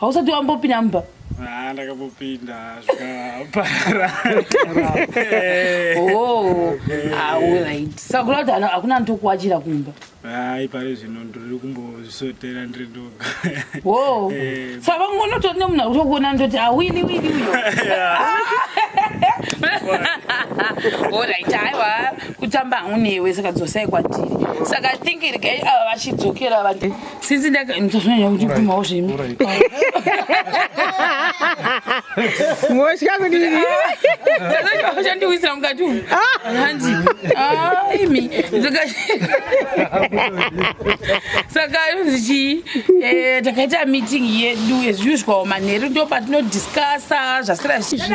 hausati wambopinda mumba Ah, ndakambopinda zvikaparara oh alright sakura kuti ano- hakuna anotokuwachira kumba hai pari zvino ndiri kumbozvisotera ndiri ndoga wo Eh. saka vangonotori nemunhu akuti okuona ndoti awini wini uyo orit aiwa kutamba hangu newe saka dzosai kwatiri saka i think regai ava vachidzokera vati since ndakazvanya kuti kumawo zvimi motya kudii chandiwisira mukati umu hanzi imi saka yonzi chii eh, takaita meeting yedu as usual manheru ndo patinodiscasa zvasira zvichii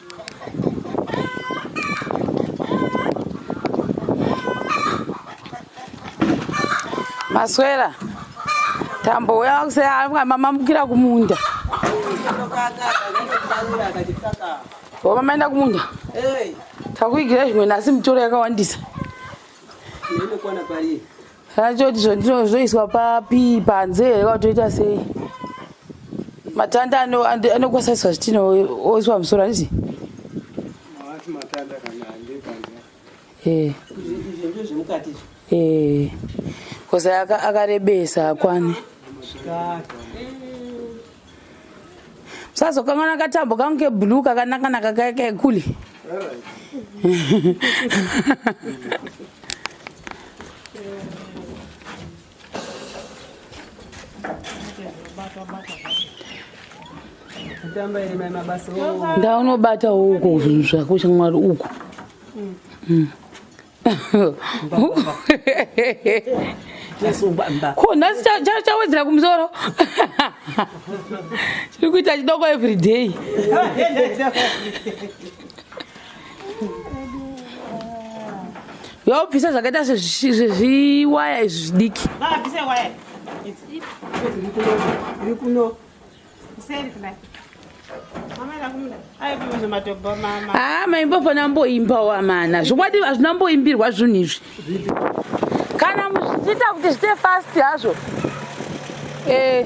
maswera tambo uya wakuseanga mamamukira kumunda o mamaenda kumunda takuigira zvimwe nhasi mitoro yakawandisa Rachoti zvoiswa papi panze here kwatoita sei? Matanda anokwasaiswa zvitina oiswa musoro handiti? Eh. Eh. Kosa akarebesa akwane. sazokanganwa katambo kangu keblue kakanakanaka kaya kekule ndaunobata uko zvinhu zvako shamwari uko mm. ko nhasi chawedzera kumusoro chiri kuita chidoko every day yobvisa zvakaita sezviwaya izvi zvidiki haa ah, maimbofana mboimbawo amana zvokwadi hazvina mboimbirwa zvinhu izvi kana muchiita kuti zvite fast hazvo eh.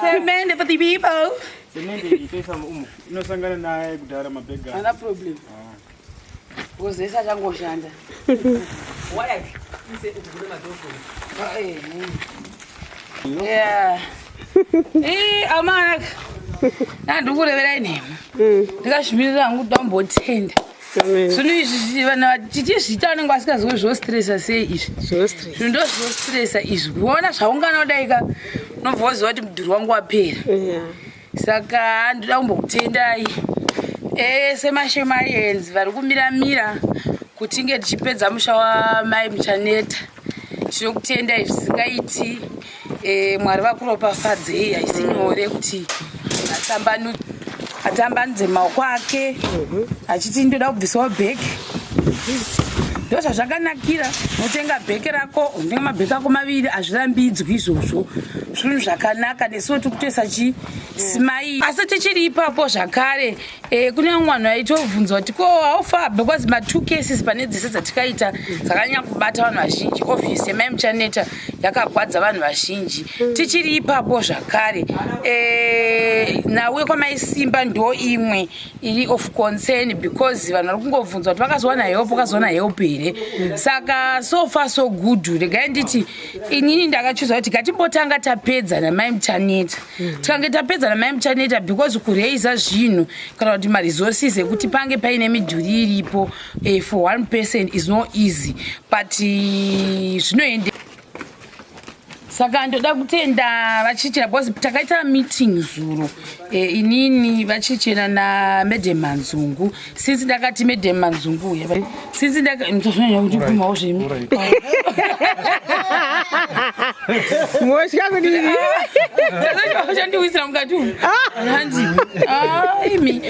Semende for the people. Semende itoisa umu inosangana naye kudhara mabhega. Ana problem. Kozesa changoshanda. amanaka nandikureverai nhema mm. ndikazvimirira hangu kuti ndambotenda zvino izvi vanhu tichizviita vanenge vasingaziwe zvostresa sei izvi zvinhu ndo zvostresa izvi kuona zvaungana kudaika unobva waziva kuti mudhuri wangu wapera saka handida kumbokutendai ese mashemarians vari kumira mira kuti inge tichipedza musha wamai muchaneta tinokutendai zvisingaiti e, mwari vakuropafadzei haisi nyore kuti atambanudze maoko ake achiti ndoda kubvisawo bheki ndozvazvakanakira unotenga bheke rako unotenga mabheke ako maviri hazvirambidzwi izvozvo zvinhu zvakanaka nesuwo tiri kutoisa chi simai asi tichiri ipapo zvakare eh, kune vamwe vanhu vaitovhunzwa kuti ko haufa because ma two cases pane dzese dzatikaita dzakanyanya kubata vanhu vazhinji office yemai muchaneta yakagwadza vanhu vazhinji tichiri ipapo zvakare eh, nawe kwamaisimba ndo imwe iri of concern because vanhu vari kungobvunzwa kuti vakazowana help vakazowana help here saka so far so good regai nditi inini ndakachuza kuti gatimbotanga tapedza namai muchaneta mm. tikange tapedza namai muchaneta because kuraiza zvinhu kana kuti maresources ekuti pange paine midhuri iripo eh, for one person is no easy but eh, zvinoende saka ndoda kutenda vachichera because takaita meeting zuro e, eh, inini vachichera namadam manzungu since ndakati madam manzungu uye since ndakatozonya kuti kumawo zvimi motya kudii chandiwisira mukati umu hanzi aimi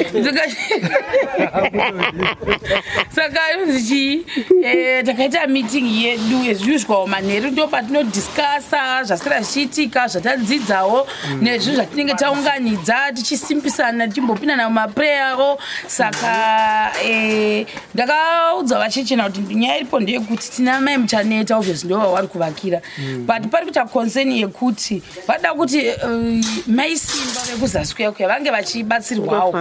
saka yonzi chii Eh, takaita meeting yedu ezviuzwawo manheru ndo patinodiscasa zvasira zvichiitika zvatadzidzawo mm. nezvinhu zvatinenge taunganidza tichisimpisana tichimbopindana mumapreyavo saka eh, ndakaudza vachechena kuti nyaya iripo ndeyekuti tina mai muchaneta obvious ndo vawari kuvakira mm. but pari kuita concern yekuti vada kuti eh, maisimba vekuzasi kuya kuya vange vachibatsirwawo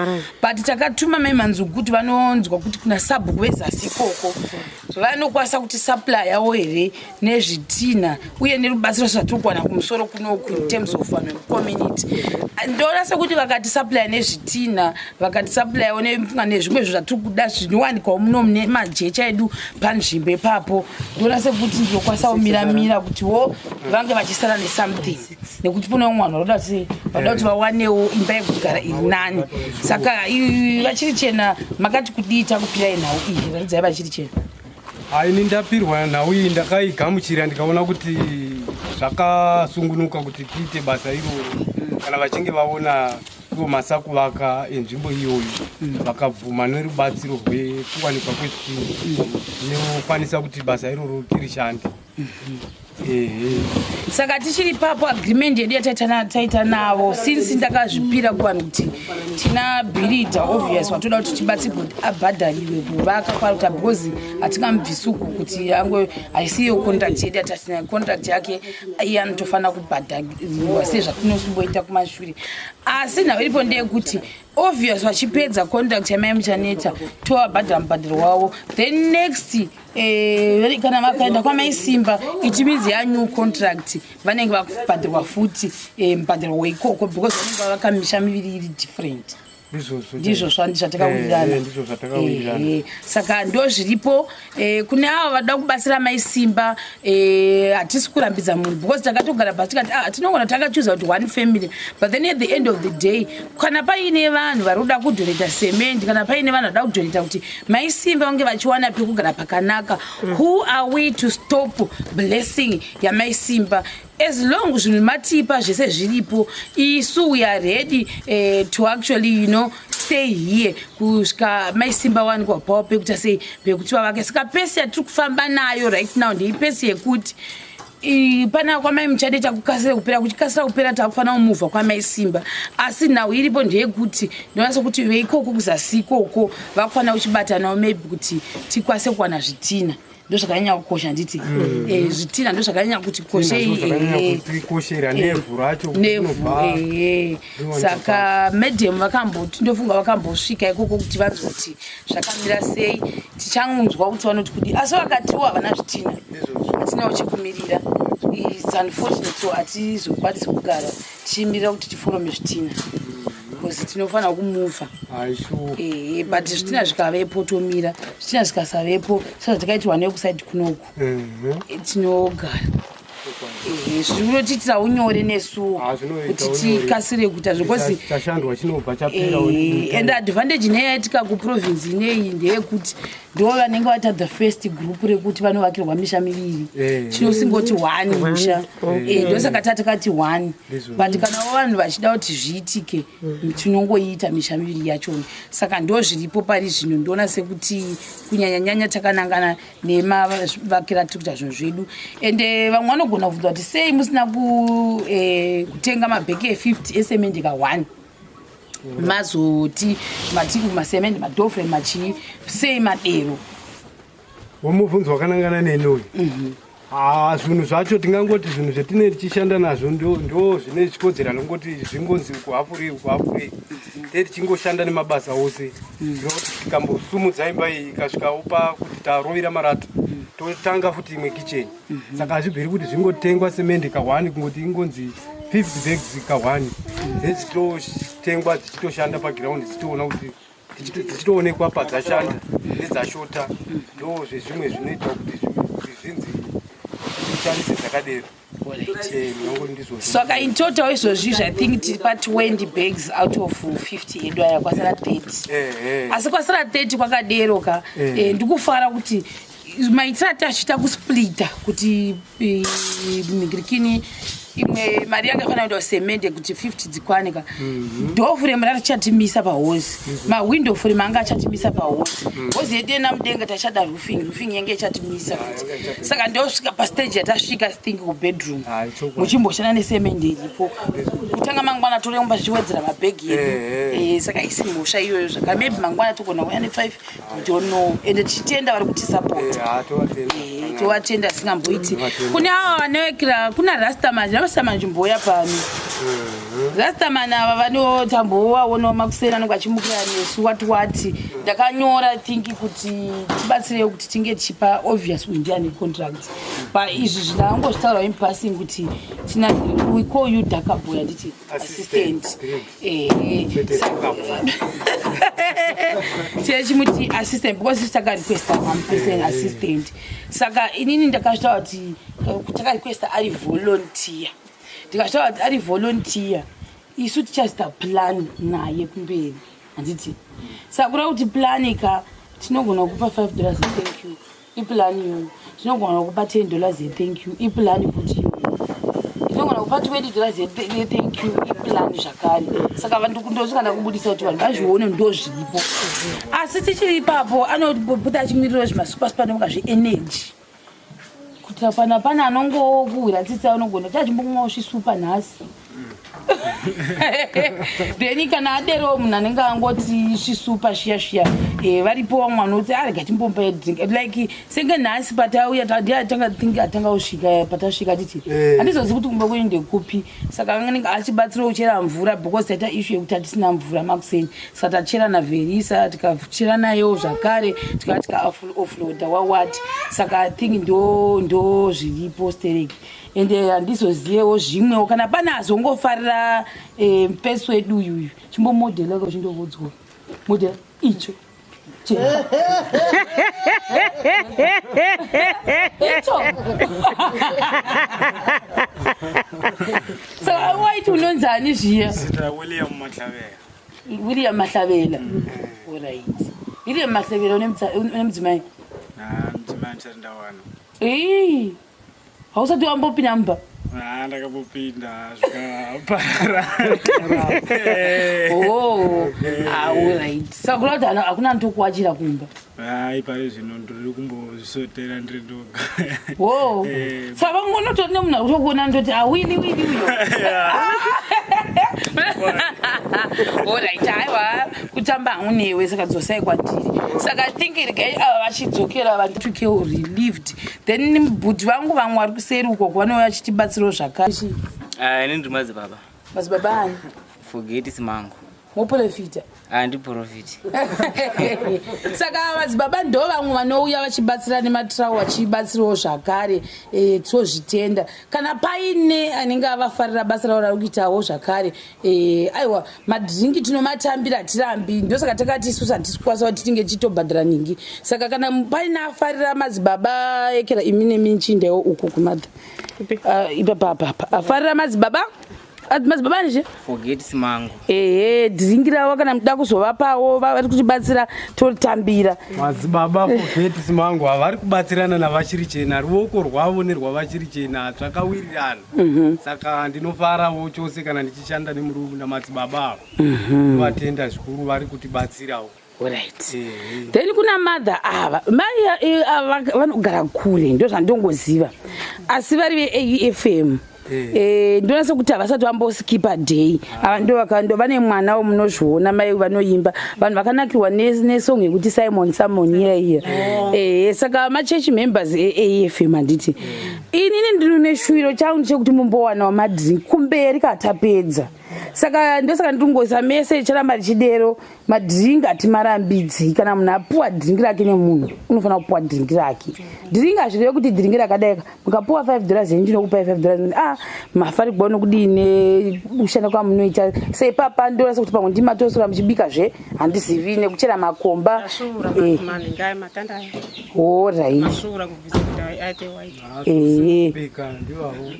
but takatuma mai manzungu kuti vanonzwa kuti kuna sabhuku vezasi ikoko vanokwanisa kuti supply yawo here nezvitinha uye nerubatsiro zvatiri kuwana kumusoro kunoku in terms of vanhu vecommunity ndoona sekuti vakati supply nezvitinha vakati supplyawo nezvimwe zvinhu zvatiri kuda zvinowanikwawo muno mune majecha edu panzvimbo ipapo ndoona sekuti ndinokwanisa kumiramira kuti wo vange vachisara nesomething nekuti kune vamwe vanhu vanoda kuti vanoda kuti vawanewo imba yekugara iri nani saka vachiri chena makati kudii takupirai nhau iyi ratidzai vachiri chena haini ndapirwa nhau iyi ndakaigamuchira ndikaona kuti zvakasungunuka kuti tiite basa iroro kana vachinge vaona ivo masakuvaka enzvimbo iyoyo mm. vakabvuma nerubatsiro rwekuwanikwa kwezvii zvinokwanisa kuti basa iroro tirishande saka tichiri papo agreement yedu yataita navo since ndakazvipira kuvanhu kuti tina birida obvious watoda kuti tibatsi kuti abhadhariwe kuvaka kwaruta because hatingamubvisuku kuti ango haisiyo contract yedu yatatina contract yake iye anotofanira kubhadhariwa sezvatinosumboita kumashure asi nhau iripo ndeyekuti obvious vachipedza contract yamai muchaneta tovabhadhara mubhadharo wavo then next Eh, kana vakaenda kwamai simba it means ya new contract vanenge vakubhadhirwa futi eh, mubhadhirwa weikoko because vanenge vavaka misha miviri iri different ndizvo zvatakawirirana eh, saka ndo zviripo kune avo vada kubatsira mai simba Eh, hatisi kurambidza munhu because takatogara pasi tikati ah, tinogona takachuza kuti one family but then at the end of the day kana paine vanhu vari kuda kudhoneta cement kana paine vanhu vada kudhoneta kuti maisimba vange vachiwana pekugara pakanaka mm. who are we to stop blessing yamaisimba as long zvinhu matipa zvese zviripo isu we are ready uh, to actually you know stay here kusvika maisimba wanikwa pawo pekuita sei pekuti vavake saka pesi yatiri kufamba nayo right now ndei pesi yekuti pana kwamai muchade takukasira kupera kuchikasira kupera takufanira kumuvha kwamai simba asi nhau iripo ndeyekuti ndonasa kuti veikoko kuzasi ikoko vakufanira kuchibatanawo maybe kuti tikwanise kuwana zvitina ndozvakanyanya kukosha handiti mm. eh, zvitina ndozvakanyanya kuti kosheikoshera eh, eh, nevhu racho saka medium vakamboti ndofunga vakambosvika ikoko kuti vanzi kuti zvakamira sei tichangunzwa kuti vanoti kudi asi vakatiwo havana zvitina hatinawo chekumirira its unfortunate so hatizokwanisi kugara tichimirira kuti tiforome zvitina bcause tinofanira kumuvha ehe but zvitina zvikavepo tomira zvitina zvikasavepo sezvatakaitirwa nekusaidi kunoku tinogara ehe zviri kutotiitira unyore nesuwo ah, kuti tikasire kuita zvekozi and advantage ineyi yaitika kuprovince ineyi ndeyekuti ndivo vanenge vaita the first group rekuti vanovakirwa misha miviri eh. tinosingoti one musha eh. eh, ndosaka tatakati one but kana wo vanhu vachida kuti zviitike mm. tinongoiita misha miviri yachona saka ndo zviripo pari zvino ndoona sekuti kunyanyanyanya takanangana nemavakira tiri kuita zvinhu zvedu ende vamwe vanogona kubvunza kuti sei musina kutenga mabheki e50 esemendeka one mazoti matiku masemende madofre machii sei madero womubvunzo wakanangana neni uyu mhm. ah, zvinhu zvacho tingangoti zvinhu zvatine tichishanda nazvo ndo zvine zvichikodzera anongoti zvingonzi kuhafurei kuhafurei mhm. te tichingoshanda nemabasa ose mhm. ndinoti tikambosumudza imba iyi ikasvikawo pakuti tarovira marata totanga futi imwe kicheni mhm. saka hazvibviri kuti zvingotengwa semende kahwani kungoti ingonzi 50 bags kahwani mhm. then dzichitotengwa dzichitoshanda pagiraundi dzichitoona kuti dzichitoonekwa padzashanda nedzashota ndo zvezvimwe zvinoita kuti zvinzi zvishandise dzakadero saka in total izvozvi zvi think tiri pa 20 bags out of 50 edu aya kwasara 30 eh, eh. asi kwasara 30 kwakadero ka eh. ndikufara kuti maitira ati achiita kusplita kuti eh, migirikini imwe mari yanga ifanira kuenda semende kuti 50 dzikwane ka mhm. dofure mari richatimisa pahozi mhm. mawindo fure manga achatimisa pahozi mhm. hozi yedu yena mudenga tachada roofing roofing yange ichatimisa futi saka ndosvika pastage yatasvika think kubedroom ah, muchimboshana nesemende iripo kutanga mangwana toremba zvichiwedzera mabhegi yedu eh, eh. saka isi mhosva iyoyo zvaka maybe mangwana togona kuya ne5 don't know and tichitenda vari kutisapota eh, eh, tovatenda zvisingamboiti kune ava vanowekera kuna rastaman rastaman zvimboya pano mhm. rastaman ava vanotambovaonawo makuseni anenge achimukira nesu wati wati ndakanyora think kuti tibatsirewo kuti tinge tichipa obvious indian contract paizvi zvinangozvitaura impassing kuti tina we call you dakaboy handiti assistant tichimuti assistant because sisi takarequesta mamupersonal assistant saka inini ndakazvitaura kuti eh, takarequesta ari volunteer ndikazvitaura kuti ari volunteer isu tichazita plan naye kumberi handiti saka kuda kuti plani ka tinogona kupa five dollars thank you Ipulani iyoyo. Tinogona kupa 10 dollars ye thank you. Ipulani futi iyoyo. Tinogona kupa 20 dollars ye thank you. Ipulani zvakare. Saka vanhu ndosvika ndakubudisa kuti vanhu vazvione ndozviripo. Asi tichiri ipapo anobuda achimirira zvimasupa supa ndomuka zve energy. Kuti apana pana anongokuhwira tsitsi anogona chachimbomwa usvisupa nhasi. then kana aderewo munhu anenge angoti svisupa shiya shiya eh, varipo vamwe vanoti arega ah, timbomba drink like senge nhasi patauya tadiatanga think atanga kusvika eh, patasvika titi eh. handizozi kuti kumba kwenyu ndekupi saka anenge achibatsirawo kuchera mvura because taita ishu yekuti hatisina mvura makuseni saka tachera naverisa tikachera nayewo zvakare tikava tikaoffloada wawati saka i think ndo ndo zviripo stereki ende handizozivewo zvimwewo kana pane azongofarira eh, mupesi wedu uyu uyu chimbomodhela ka uchindovodzwa modhela icho Che- icho so waiti unonzani zviya Zita William Matlavera. william mahlavela orit william mahlavela une mutsa- une mudzimai Ah, mdzimai ndisati ndawana. Ii, hausati wambopinda mumba Ah, ndakambopinda zvikaparara oh alright sakura kuti hana- hakuna anotokuwachira kumba Ah, ipayo zvino ndiri kumbozvisotera ndiri ndoga wo Eh. saka vangonotori nemunhu akuti kuona ndoti awini wini uyo olright haiwa kutamba hangu newe saka dzosai kwatiri saka i think regai ava vachidzokera vanditukeo relieved then bhudhi vangu vamwe vari kuseri ukoko vanouya vachitibatsirawo zvakare ah, ini ndiri madzibaba madzibaba ani fogeti simangu moprofita handiprofiti ah, saka madzibaba ndo vamwe vanouya vachibatsira nematrawo vachibatsirawo zvakare eh, tozvitenda kana paine anenge avafarira basa ravo rari kuitawo zvakare Eh, aiwa madringi tinomatambira hatirambi ndosaka takati isusu hatisi kukwanisa kuti tinge tichitobhadhara nhingi saka kana paine afarira madzibaba ekera imi nemi nchindewo uku kumadha ah, ipapapapa afarira madzibaba ah, madzibaba anizve ehe dringi ravo kana muda kuzovapawo vari kutibatsira totambira madzibaba forgets mangu havari kubatsirana navachiri chena ruoko rwavo nerwavachiri chena zvakawirirana Mhm. saka ndinofarawo chose kana ndichishanda nemurume namadzibaba avo Mhm. vatenda zvikuru vari kutibatsirawo Alright. Ehe. then kuna mother ava mai eh, ava vanogara kure ndozvandongoziva asi vari veafm Eh. Eh, ndonasa kuti havasati vamboskipa day ava ndovakando vane mwana womunozviona mai vanoimba vanhu vakanakirwa ne- nesong yekuti simon simon iya iya Eh, saka machechi members eafm handiti inini ndiri neshuviro changu ndichekuti mumbowanawo madrink kumberi katapedza saka ndosaka ndiri kungoisa mese richaramba richidero madrink atimarambidzi kana munhu apuwa drink rake nemunhu unofanira kupuwa drink rake drink hazvireve kuti drink rakadaika mukapuwa five dollars henyu ndinokupai five dollars ah mafarigwa unokudii nekushanda kwamunoita se ipapa ndorasa kuti pamwe ndimatosora muchibika zve handizivi nekuchera makomba eh. orit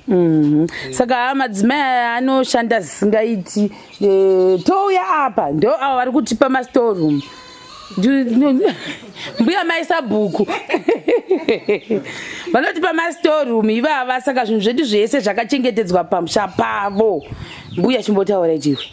Mhm. saka madzimai aya anoshanda zvisingaiti e, touya apa ndo avo vari kutipa mastoreroom mbuya maisa bhuku vanotipa mastoreroom ivava saka zvinhu zvedu zvese zvakachengetedzwa pamusha pavo mbuya chimbotaura chivi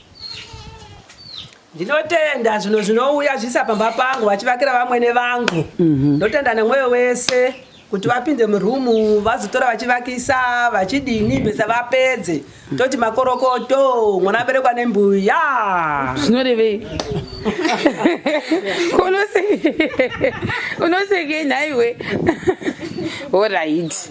ndinotenda zvinhu zvinouya zviisa pamba pangu vachivakira vamwene vangu mhm. ndotenda mm -hmm. nemwoyo wese kuti vapinde murumu vazotora vachivakisa vachidini besa vapedze toti makorokoto mwana aberekwa nembuya zvinorevei unoseke nhaiwe orit